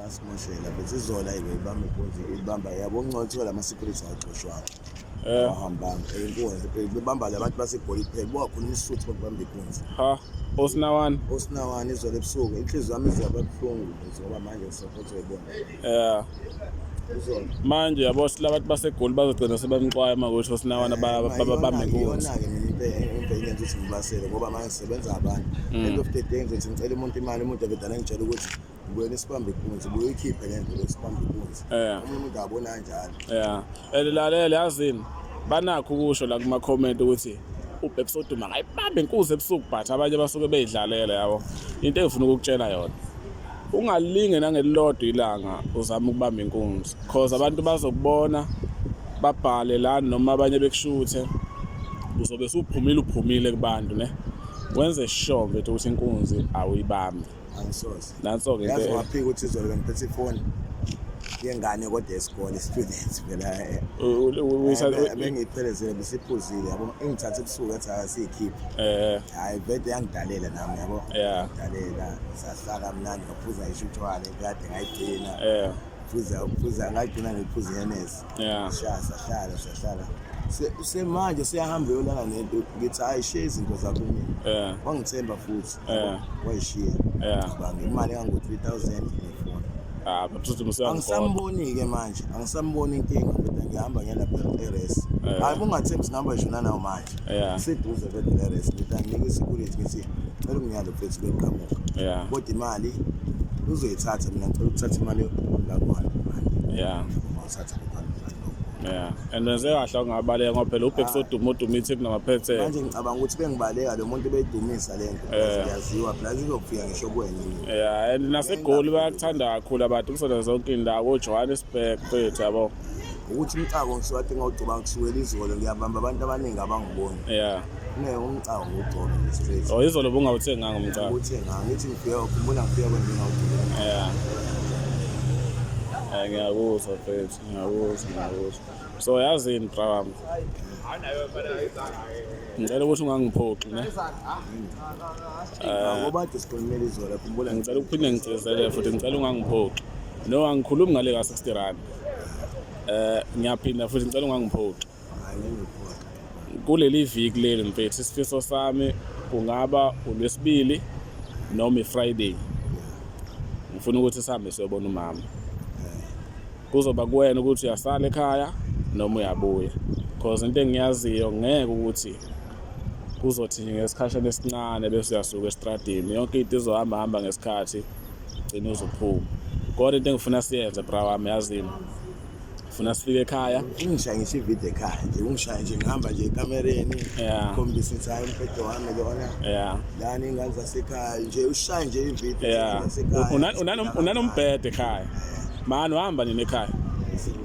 Asimoshela bese izola ibe ibamba ikunzi ibamba yabo ungcothola ama secrets agcoshwayo. Eh. Ahambanga inkunzi bebamba labantu basegoli kuphela bokhuluma isuthu bakubamba ikunzi. Ha. Osinawan. Osinawan izolo ebusuku inhliziyo yami izaba buhlungu ngoba manje ngisaphothwe ibona. Eh. manje yabo silabantu basegoli bazogcina sebamxwaya uma kusho sinawana babambe inkunzi ngenza ukuthi ngibasele ngoba manje sisebenza abantu mm. end of the day ngizothi ngicela umuntu imali umuntu abedala ngitshela ukuthi wena isibambe ikunzi buyikhiphe le nto lesibambe ikunzi yeah. omunye umuntu abona njalo yeah and lalela yazini banakho ukusho la kuma comment ukuthi ubhebhe soduma ngayibambe inkuzi ebusuku but abanye basuke beyidlalela yabo into engifuna ukukutshela yona ungalinge nangelilodwa ilanga uzama ukubamba inkunzi cause abantu bazokubona babhale la noma abanye bekushuthe uzobe suphumile uphumile kubantu ne wenze sure mfethu ukuthi inkunzi awuyibambi angisoze nanso-ke yazi waphika ukuthi izolo bengiphethe ifoni yengane kodwa esikole students phela eh, eh, eh, bengiyiphelezele bisiphuzile yabo ingithathe ebusuku athi akasiyikhiphe hhayi vede yangidalela nami yabo dalela sahlala mnandi ngaphuza isho utshwala ekade ngayigcina phuza phuza ngagcina ngiphuza ihenesi yeah sahlala sahlala semanje siyahamba yolala nento ngithi hayi shiya izinto zakho mina wangithemba futhi wayishiya ngicabanga imali engango-three thousand nefoni ah, angisamboni-ke manje angisamboni inkinga kodwa ngihamba ngiyalapha eres hayi kungathembi singihamba ngisho nanawo manje yeah. seduze kweDRS ngidanika isecurity ngithi cela ungiyale mfethu benqamuka yeah. kodwa imali uzoyithatha mina ngicela ukuthatha imali lakwana yeah. uthatha Yeah. And wenze kahle ungabaleka ngoba phela ubheki soduma uduma ithi kunamaphethe. Manje ngicabanga ukuthi bengibaleka lo muntu beyidumisa le nto. Yaziwa plus izokufika ngisho kuwena. Yeah, and nasegoli bayakuthanda kakhulu abantu kusona zonke indawo, Johannesburg, phethe yabo. ukuthi umcako ngishiwade ngawugcoba ngisukela izolo ngiyabamba abantu abaningi abangiboni yeah ne umcako ngugcoba nje straight oh izolo bungawuthenganga umcako ukuthi ngangithi ngifike ukhumbula ngifike kwenje ngawugcoba yeah Eh, ngiyakuzwa mfethu ngiyakuzwa ngiyakuzwa so yazi yini bra wami ngicela ukuthi ungangiphoxi ne ngoba kade sikhulumela izolo khumbula ngicela ukuphinde ngigcizele futhi ngicela ungangiphoxi no angikhulumi ngale ka-60 rand Eh ngiyaphinda futhi ngicela ungangiphoxi. Kuleli viki leli mfethu isifiso sami kungaba uLwesibili noma iFriday. Ngifuna ukuthi sihambe siyobona umama. Kuzoba kuwena ukuthi uyasala ekhaya noma uyabuya. Because into engiyaziyo ngeke ukuthi kuzothi nje ngesikhashana esincane bese uyasuka esitradini yonke into izohamba hamba ngesikhathi gcina uzophuma kodwa into engifuna siyenze bra wami yazini funa sifike ekhaya ungishaye ngisho ivideo ekhaya nje ungishaye nje ngihamba nje ekamereni Yeah. khombisa ukuthi hayi umbhedo wami lona yeah lani ingane zasekhaya nje ushaye nje ivideo yeah zasekhaya. Unani- unani- unanombhede ekhaya mani uhamba nini ekhaya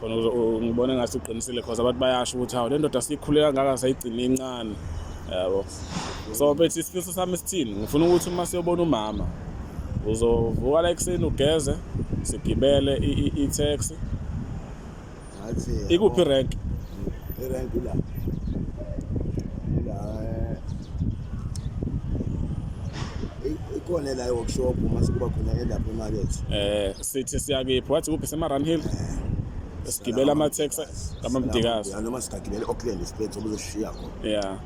khona ngibona engathi uqinisile cause abantu bayasho ukuthi hawu le ndoda siyikhule kangaka sayigcine incane yabo so bethi isifiso sami sithini ngifuna ukuthi uma siyobona umama uzovuka la ekuseni ugeze sigibele i-taxi ikuphi rank irank la la ikhona la workshop uma sekuba khona elapha emakethe eh sithi siyakephi wathi kuphi sema-run hill sigibela ama-taxi kamamdikazi Ya, noma sigagibele e-auckland isibhedi sobe uzosishiya khona ya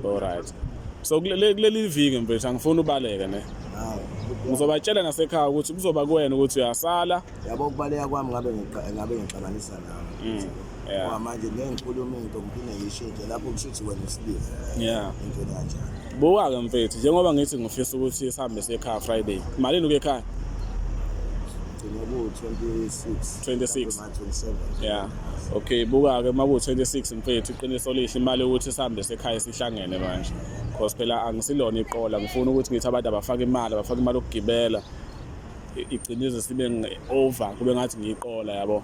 olright so kule- le- kuleli viki mfethu angifuni ubaleke ne Hawu. ngizobatshela nasekhaya ukuthi kuzoba kuwena ukuthi uyasala yabo ukubaleka kwami ngabe ngiqa- ngabe ngixabanisa nawe yeah. Ngoba manje ngeke ngikhulume into ngiphinde ngiyishintshe lapho kushuthi wena usilile ya into kanjani Buka-ke mfethu njengoba ngithi ngifisa ukuthi sihambe siye ekhaya Friday. Malini ukuya ekhaya? Gcina ku-26. 26. Manje 27. Yeah. Okay, buka-ke uma kuwu-26 mfethu iqiniso lihle imali yokuthi sihambe sekhaya sihlangene manje. Cause phela angisilona iqola ngifuna ukuthi ngithi abantu abafake imali, abafake imali yokugibela. I- Igcine ize sibe nge- over kube ngathi ngiyiqola yabo.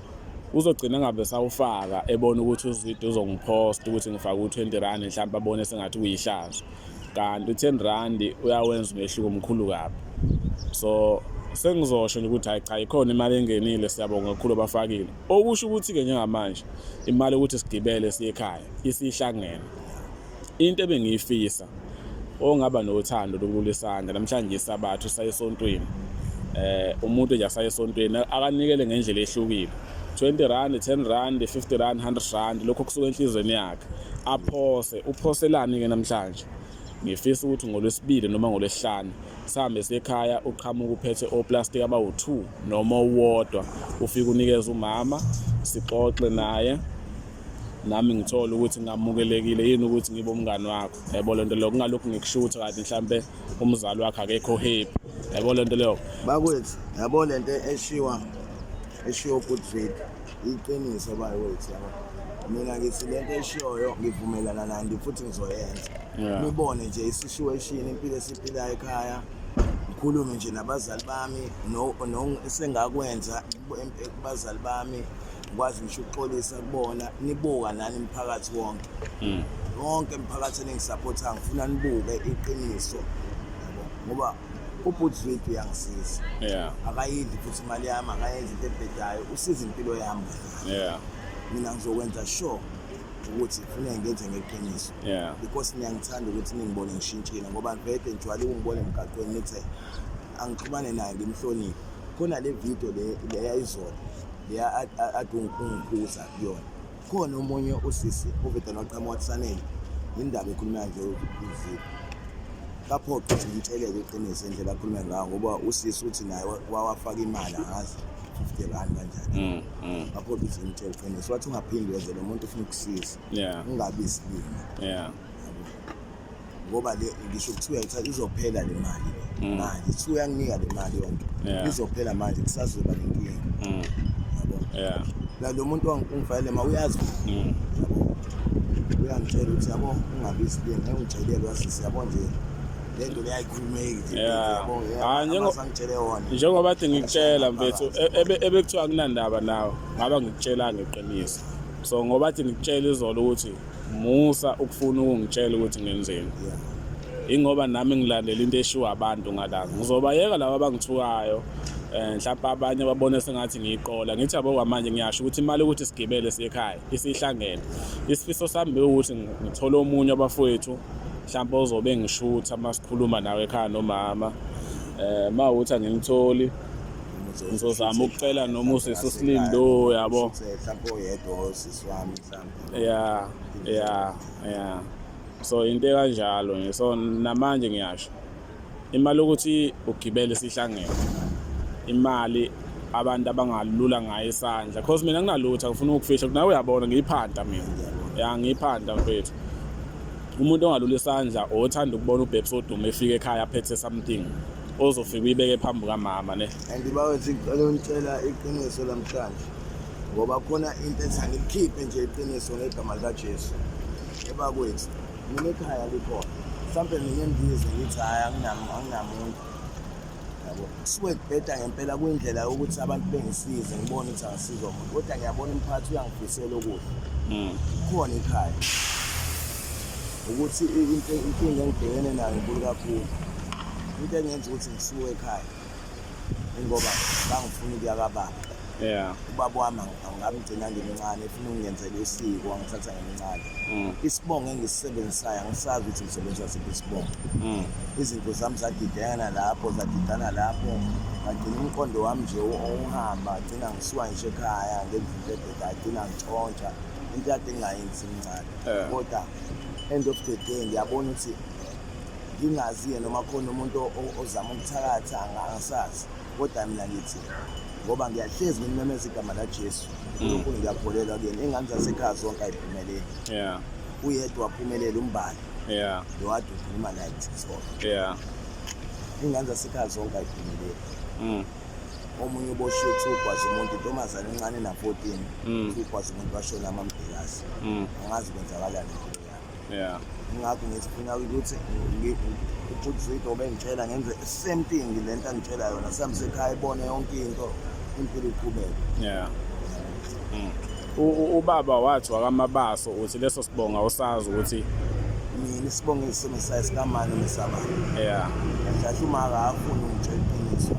uzogcina ngabe sawufaka ebona ukuthi uzwide uzongiphosta ukuthi ngifake u-20 rand mhlawumbe abone sengathi kuyihlazo kanti u-10 rand uyawenza umehluko omkhulu kabi so sengizosho nje ukuthi hayi cha ikhona imali engenile siyabonga kakhulu abafakile okusho ukuthi-ke njengamanje imali yokuthi sigibele siye ekhaya isihlangene into ebengiyifisa ongaba nothando lokulula isandla namhlanje isabathu saye esontweni eh umuntu nje asaye esontweni akanikele ngendlela ehlukile 20 rand 10 rand 50 rand 100 rand lokho kusuka enhlizweni yakhe aphose uphoselani ke namhlanje ngifisa ukuthi ngolwesibili noma ngolwesihlanu sihambe sekhaya uqhamuka uphethe oplastic abawu-2 noma uwodwa ufike unikeze umama sixoxe naye nami ngithole ukuthi ngamukelekile yini ukuthi ngibe umngani wakho yabo lento leyo kungalokhu ngikushutha kanti mhlambe umzali wakhe akekho happy yabo lento leyo bakwethu yabo lento eshiwa eshiwo good faith iqiniso bakwethu yabo mina ngithi lento eshiyoyo ngivumelana nandi futhi ngizoyenza nibone nje isituation impilo esiphila ekhaya ngikhulume nje nabazali bami no esengakwenza kubazali bami kwazi ngisho ukuxolisa kubona nibuka nani mphakathi wonke mm. wonke mphakathi eningisapotha ngifuna nibuke iqiniso ngoba ubhuti wethu uyangisiza akayidli futhi imali yami akayenzi into ebhedayo usiza impilo yami mina ngizokwenza sure ukuthi funa ngenze ngeqiniso because niyangithanda ukuthi ningibone ngishintshile ngoba vede ngijuwale ukungibona emgaqweni nithe angixhumane naye ngimhloniphe khona le video le leyayizona leya athi ungikhuza kuyona khona omunye usisi oveda noqhamuka kusanele indaba ekhuluma nje uzile lapho ukuthi ngitsheleke iqiniso indlela akhulume ngayo ngoba usisi uthi naye wawafaka imali angazi 50 rand kanjani mm, mm. lapho ukuthi ngitshele iqiniso wathi ungaphindi wenze lo muntu ufuna ukusiza ungabi isibindi ngoba le ngisho kuthiwa itha izophela le mali Mm. manje kuthiwa uyanginika le mali yonke Yeah. izophela manje kusazoba nenkinga Mm. yabo Yeah. la lo muntu wangi- ungifanele ma uyazi Mm. yabo uyangitshela ukuthi yabo ungabizi le ngeke ungitshelele wasisi yabo nje le nto leyayikhulumeki nje Yeah. yabo Ah, njengo- sangitshele yona njengoba athi ngikutshela mfethu e- ebe- ebekuthiwa kunandaba nawe ngaba ngikutshela ngeqiniso so ngoba athi ngikutshela izolo ukuthi musa ukufuna ukungitshela ukuthi ngenzeni ingoba nami ngilandela into eshiwo abantu ngalanga ngizobayeka laba abangithukayo um eh, mhlawumpe abanye babone sengathi ngiyiqola ngithi yabo kwamanje ngiyasho ukuthi imali ukuthi sigibele siyekhaya isihlangene isifiso sami bewukuthi ngithole omunye abafowethu mhlawumpe ozobe ngishutha uma sikhuluma nawe ekhaya nomama um uma ukuthi angimtholi ngizozama ukucela noma usisi usilimi lo yabo mhlawumpe oyedwa osisi wami mhlawumpe ya ya ya so into ekanjalo nje so namanje ngiyasho imali ukuthi ugibele sihlangene imali abantu abangalula ngayo isandla cause mina nginalutho ngifuna ukufihla kunawe uyabona ngiyiphanda mina ya ngiyiphanda mfethu umuntu ongalula isandla othanda ukubona ubhebs odume efika ekhaya aphethe something ozofika uyibeke phambi kamama ne and bawethi ngicela ngicela iqiniso lamhlanje ngoba khona into ethi angilikhiphe nje iqiniso ngegama likajesu ebakwethu mina ekhaya likhona mhlawumbe mina endize ngithi hhayi anginamuntu yabo kusuke kubheda ngempela kuyindlela yokuthi abantu bengisize ngibone ukuthi angisiza umuntu kodwa ngiyabona umphathi uyangifisela okuhle hmm. khona ikhaya ukuthi inkinga engibhekene nayo nkulu kakhulu into engenza ukuthi ngisuke ekhaya ingoba bangifuna ukuya kababa yeah ubaba wami angamgcina ngimncane efuna ukungenzela usiko angithatha ngimncane mm. isibongo engisisebenzisayo angisazi ukuthi ngisebenzisa siphi isibongo mm. izinto zami zadidana lapho zadidana lapho ngagcina umqondo wami nje owuhamba agcina ngisuka ngisho ekhaya ngendlela ebheda agcina ngitshontsha into yade ngingayenzi imncane kodwa end of the day ngiyabona ukuthi ngingazi-ke noma khona umuntu ozama ukuthakatha angasazi kodwa mina ngithi ngoba ngiyahlezi ngimemeza igama lajesu mm. unkulunkulu ngiyakholelwa kuyena ingane zasekhaya zonke ayiphumeleli uyedwa waphumelela umbali lo wade ukhuluma naye kuthixona ingane zasekhaya zonke ayiphumeleli mm. omunye uboshiwe kuthiwa ugwaza umuntu intombazane encane na-fourteen mm. kuthiwa ugwaza umuntu washona amambhekazi angazi kwenzakalani yeah ngakho ngisifuna ukuthi ubhuti obengitshela ngenze same thing le nto angitshela yona sihambe sekhaya ibone yonke into impilo iqhubeke yeah mm. ubaba wathi wakamabaso uthi leso sibonga usazi ukuthi mina isibonga esisemsayi sikamani nesabani yeah ngihlahle umaka afuna ungitshela iqiniso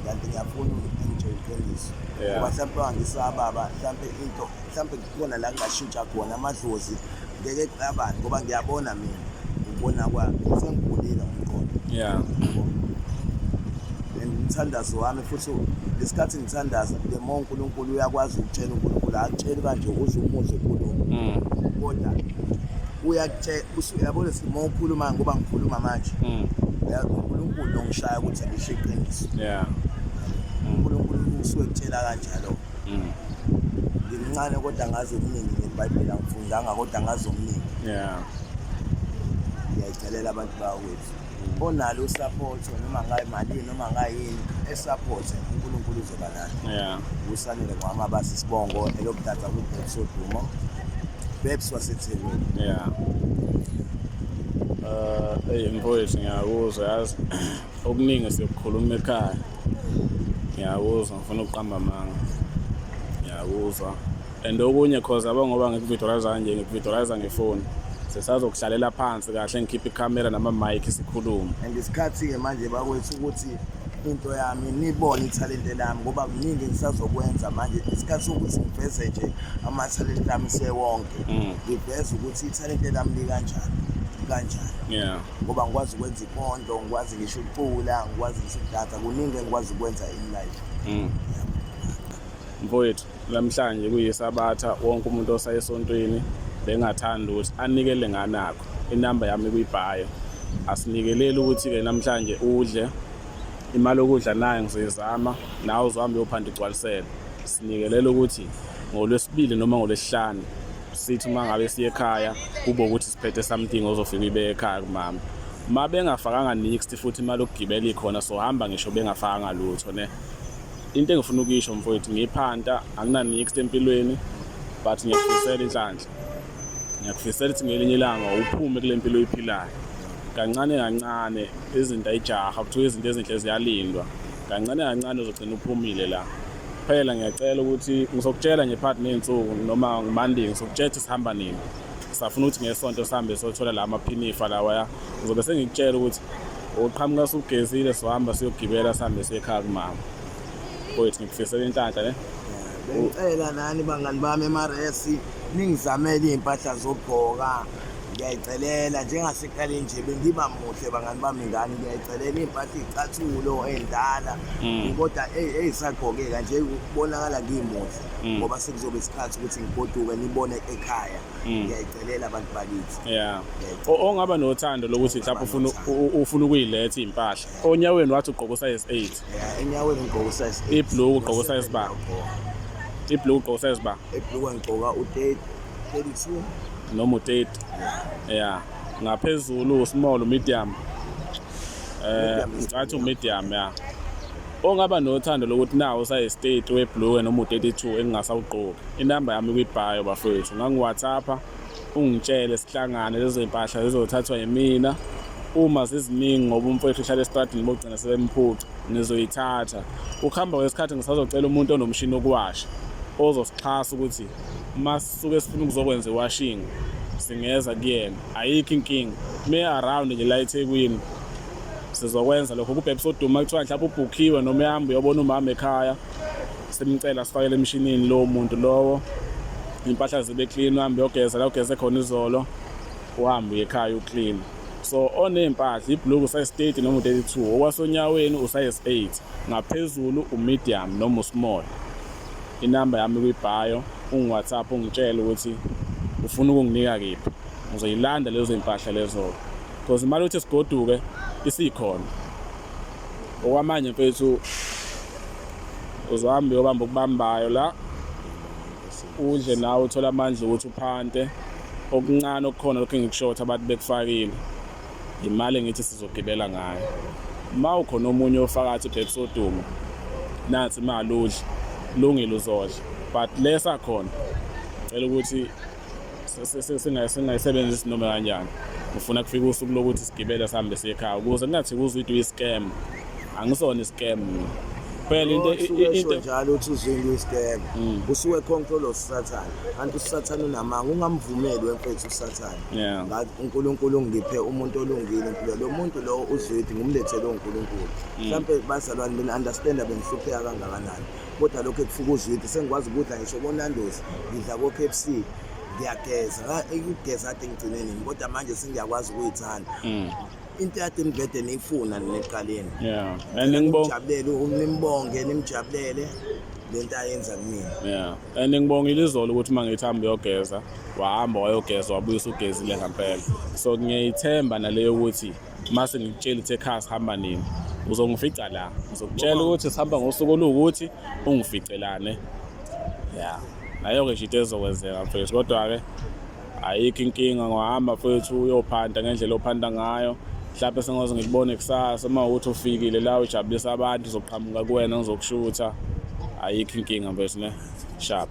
kanti ngiyafuna ungitshela iqiniso ngoba mhlawumbe angisababa mhlawumbe into mhlawumbe khona la ngingashintsha khona amadlozi ngeke kuqabane ngoba ngiyabona mina ngibona kwami sengikhulile ngomqondo yeah and umthandazo wami futhi ngesikhathi ngithandaza the more uNkulunkulu uyakwazi ukutshela uNkulunkulu akutsheli kanje uze umuze kulo mm. kodwa uyakutshela usuyabona simo ukhuluma ngoba ngikhuluma manje mm. uNkulunkulu ongishaya ukuthi ngisho iqiniso yeah mm. uNkulunkulu usuke kutshela kanjalo mm. ngimncane kodwa ngazi okuningi ngebhayibheli angifundanga kodwa ngazi okuningi yeah ngiyayicelela abantu bakwethu mm. onalo usapotho noma ngayo malini noma ngayini esapothe unkulunkulu uzoba nalo yeah usanele ngwami abasi sibongo elokuthatha kubhebs odumo bebs wasethekwini yeah um uh, eyi mfowethu ngiyakuzwa yazi okuningi siyokukhuluma ekhaya ngiyakuzwa ngifuna ukuqamba amanga ngiyakuzwa and okunye cause aba ngoba ngikuvidorayiza kanje ngikuvidorayiza ngefoni sesazokuhlalela phansi kahle ngikhiphe ikhamera nama-mike sikhulume and isikhathi-ke manje bakwethu ukuthi into yami nibone ithalente lami ngoba kuningi ngisazokwenza manje isikhathi sokuthi ngiveze nje amathalente lami sewonke mm. ngiveze ukuthi ithalente lami likanjani kanjani yeah ngoba ngikwazi ukwenza ipondo ngikwazi ngisho ukucula ngikwazi ngisho ukudansa kuningi engikwazi ukwenza in life mm. mfowethu namhlanje kuyisabatha wonke umuntu osayesontweni bengathanda ukuthi anikele nganakho inamba yami kuyibhayo asinikeleli ukuthi-ke namhlanje udle imali yokudla nayo ngizoyizama nawe uzohambe uyophanda igcwalisele sinikelela ukuthi ngolwesibili noma ngolwesihlanu sithi uma ngabe siye ekhaya kube ukuthi phethe something ozofika uyibe ekhaya kumama uma bengafakanga nixty futhi imali okugibela ikhona so hamba ngisho bengafakanga lutho ne into engifuna ukuyisho mfowethu ngiphanta anginanixty empilweni but ngiyakufisela inhlanhla ngiyakufisela ukuthi ngelinye ilanga uphume kule mpilo oyiphilayo kancane kancane izinto ayijaha kuthiwa izinto ezinhle ziyalindwa kancane kancane uzogcina uphumile la phela ngiyacela ukuthi ngizokutshela nje phakathi ney'nsuku noma ngimandingi ngizokutshela ukuthi sihamba nini safuna ukuthi ngesonto sihambe sothola la maphinifa lawaya ngizobe sengikutshela ukuthi uqhamuka sugezile sohamba siyogibela sihambe siyekhaya kumama koyithi ngikufisela inhlanhla ne ngicela nani bangani bami emrs ningizamele iy'mpahla zokugqoka ngiyayicelela njengaseqale nje bengiba muhle bangani bami ngani ngiyayicelela iy'mpahla iy'cathulo ey'ndala hmm. kodwa ey'sagqokeka nje kubonakala ngimuhle mm. ngoba mm. sekuzoba isikhathi ukuthi ngigoduke nibone ekhaya mm. ngiyayicelela abantu bakithi yeah ongaba nothando lokuthi mhlawumbe ufuna ufuna ukuyiletha impahla onyaweni wathi ugqoka size 8 yeah enyaweni ngigqoka size 8 iblue ugqoka size ba iblue ugqoka size ba iblue ngigqoka u30 32 noma u30 yeah ngaphezulu small medium eh ngathi medium yeah Ongaba nothando lokuthi nawo usayestate weblue noma u-32 engingasawugqoki. Inamba yami kwibhayo bafethu. Ngangiwhatsappa ungitshele sihlangane lezo zimpahla zizothathwa yimina. Uma ziziningi ngoba umfowethu uhlala estradini bogcina sebemphuca ngizoyithatha. Ukuhamba kwesikhathi ngisazocela umuntu onomshini wokuwasha ozosixhasa ukuthi uma sisuke sifuna ukuzokwenza iwashing singeza kuyena. Ayikho inkinga. Meya around nje la eThekwini sizokwenza lokho kubhebisa uduma kuthiwa mhlawumbe ubhukhiwe noma uyahamba uyobona umama ekhaya simcela sifakele emshinini lowo muntu lowo impahla zibe clean uhambe uyogeza la ugeze khona izolo uhambe uye ekhaya uclean so oney'mpahla ibhuluku usayi-state noma u-32 okwasonyaweni usayi-8 ngaphezulu umedium noma usmall inamba yami kwibhayo ungiwhatsapp ungitshele ukuthi ufuna ukunginika kephi ngizoyilanda lezo zimpahla lezo-ke because imali yokuthi sigoduke isikhona okwamanje mfethu uzohamba uyobamba okubambayo la udle nawe uthole amandla ukuthi uphante okuncane okukhona lokhu engikushothi abantu bekufakile imali engithi sizogibela ngayo uma ukhona omunye ofakathi ubhekisa odumo nathi imali udle lungile uzodla but lesakhona cela ukuthi singayisebenzisi noma kanjani ngifuna kufika usuku lokuthi sigibele sihambe siye ekhaya ukuze kungathi kuzwe ukuthi uyi-scam angisona i-scam phela into into njalo uthi uzinga uyisikele mm. usuke control of satan kanti usathane unamanga ungamvumeli wemfethu usathane ngathi uNkulunkulu ungiphe umuntu olungile impilo lo muntu lo uzwidi ngumlethele uNkulunkulu mm. mhlawumbe bazalwane mina understand abengihlupheka kangakanani kodwa lokho ekufuka uzwidi sengikwazi ukudla ngisho konandos ngidla ko-k f c ngiyageza ukugeza kade ngigcine nini kodwa manje sengiyakwazi ukuyithanda mm. into yade ngivede niyifuna neqaleni ngijabulele nimbonge nimjabulele le nto ayenza kumina ya and ngibongile izolo ukuthi uma ngithi hambe uyogeza wahamba wayogeza wabuyisa ugezile ngampela so ngiyayithemba naleyo ukuthi mase ngikutshela ukuthi ekhaya sihamba nini uzongifica la uzokutshela ukuthi sihamba ngosuku oluwukuthi ungificelane ya nayo-ke nje into ezokwenzeka mfethu kodwa-ke ayikho inkinga ngohamba mfethu uyophanda ngendlela ophanda ngayo mhlawumbe sengaze ngikubone kusasa uma ukuthi ufikile la ujabulisa abantu uzoqhamuka kuwena ngizokushutha ayikho inkinga mfethu ne sharp